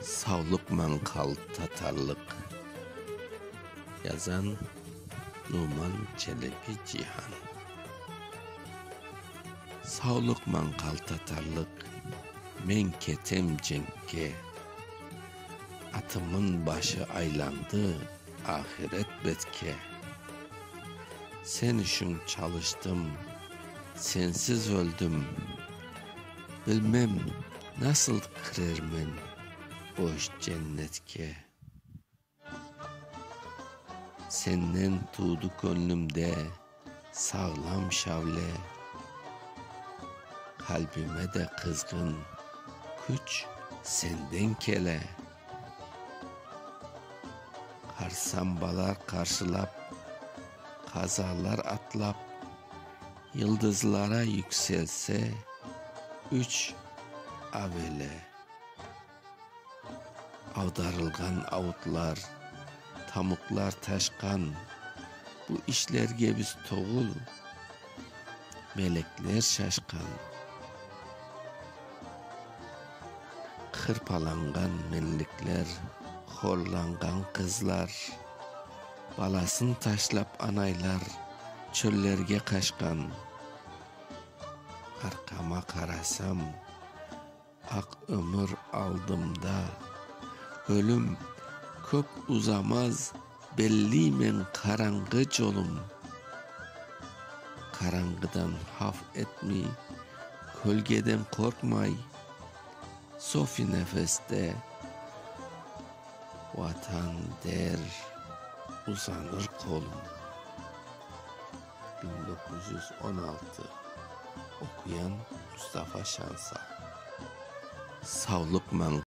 Savlıq manqal tatarlıq. Yazan, Numan Çelebi Cihan. Savlıq manqal tatarlıq. Men ketem cenkke. Atımın başı aylandı ahiret betke. Sen içün çalıştım, sensiz öldim. Bilmem. Nasıl kirermen boş cennetke? Sennen tuğdı köñlümde sağlam şavle, Qalbime de qızğın küç senden kele. Qarsambalar qarşılap, qazalar atlap. Yıldızlara yükselse üç avele. Avdarılğan avutlar, tamuqlar taşqan bu işlerge biz togul, melekler şaşqan. Hırpalanğan menlikler, horlanğan qızlar. Balasın taşlap anaylar çöllerge qaşqan. Arqama qarasam, aq ömür aldımda. Ölüm köp uzamaz, belliymen qaranğı colum. Qaranğıdan haf etmey, kölgeden qorqmay, sofi nefeste. Vatan der, uzanır qolum. Biñ doquz yüz on altı Oquyan, Mustafa Şansal. Savlıq mañ